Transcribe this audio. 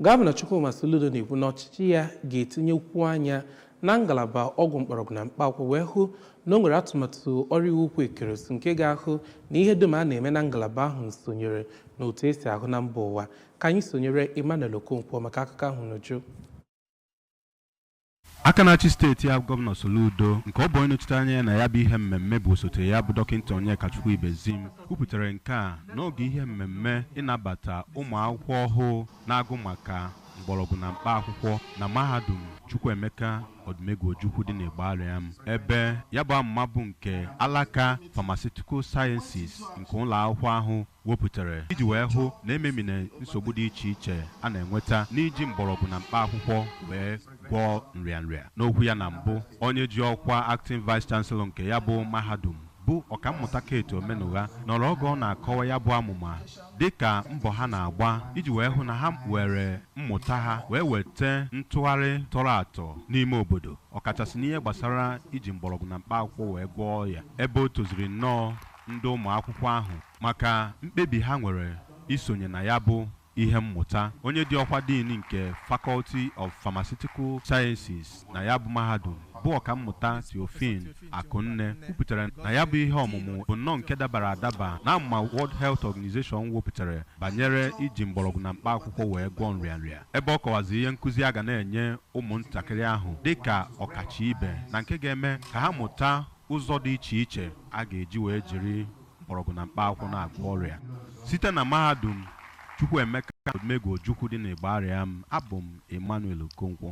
Gọvanọ Chukwuma Soludo na-ekwu na ọchịchị ya ga-etinyekwu anya na ngalaba ọgwụ mkpọrọgwụ na mkpa akwụkwọ wee hụ na o nwere atụmatụ ọrụ iwu ukwu ekeresu nke ga-ahụ na ihe dum a na-eme na ngalaba ahụ sonyere n'otu esi ahụ na mba ụwa ka anyị sonyere Emmanuel Okonkwo maka akụkọ ahụ n'uju Aka na-achị steeti a Gọvanọ Soludo nke ọ bụ onye nọchite anya ya na ya bụ ihe mmemme bụ osote ya bụ Dọkịta Onyekachukwu Ibezim kwupụtara nke a n'oge ihe mmemme ịnabata ụmụ akwụkwọ ọhụụ na-agụ maka mgbọrọgwụ na mkpa akwụkwọ na mahadum Chukwuemeka Odumegwu Ojukwu dị n'Igbariam ebe ya bụ amụma bụ nke alaka Pharmaceutical Sciences nke ụlọ akwụkwọ ahụ wepụtara iji wee hụ na e memina nsogbu dị iche iche a na-enweta n'iji mgbọrọgwụ na mkpa akwụkwọ wee gwọọ nrịanrịa n'okwu ya na mbụ onye ji ọkwa acting vice chancellor nke ya bụ mahadum bụ ọkammụta Kate Omenugha nọrọ oge ọ na-akọwa ya bụ amụma dịka mbọ ha na-agba iji wee hụ na ha were mmụta ha wee weta ntụgharị tọrọ atọ n'ime obodo ọkachasị n'ihe gbasara iji mgbọrọgwụ na mkpa akwụkwọ wee gwọọ ọrịa ebe o toziri nnọọ ndị ụmụ akwụkwọ ahụ maka mkpebi ha nwere isonye na ya bụ ihe mmụta onye ji ọkwa dean nke Faculty of Pharmaceutical Sciences na ya bụ mahadum bụ ọkammụta Theophine Akunne kwupụtara na ya bụ ihe ọmụmụ bụ nnọọ nke dabara adaba na amụma World Health Organization wepụtara banyere iji mgbọrọgwụ na mkpa akwụkwọ wee gwọọ nrịanrịa ebe ọ kọwazi ihe nkụzi a ga na-enye ụmụntakịrị ahụ dị ka ọkacha ibe na nke ga-eme ka ha mụta Ụzọ dị iche iche a ga-eji wee jiri mgbọrọgwụ na mkpa akwụkwọ na-agwọ ọrịa site na mahadum Chukwuemeka Odumegwu Ojukwu dị n'Igbariam, abụ m Emmanuel Okonkwo.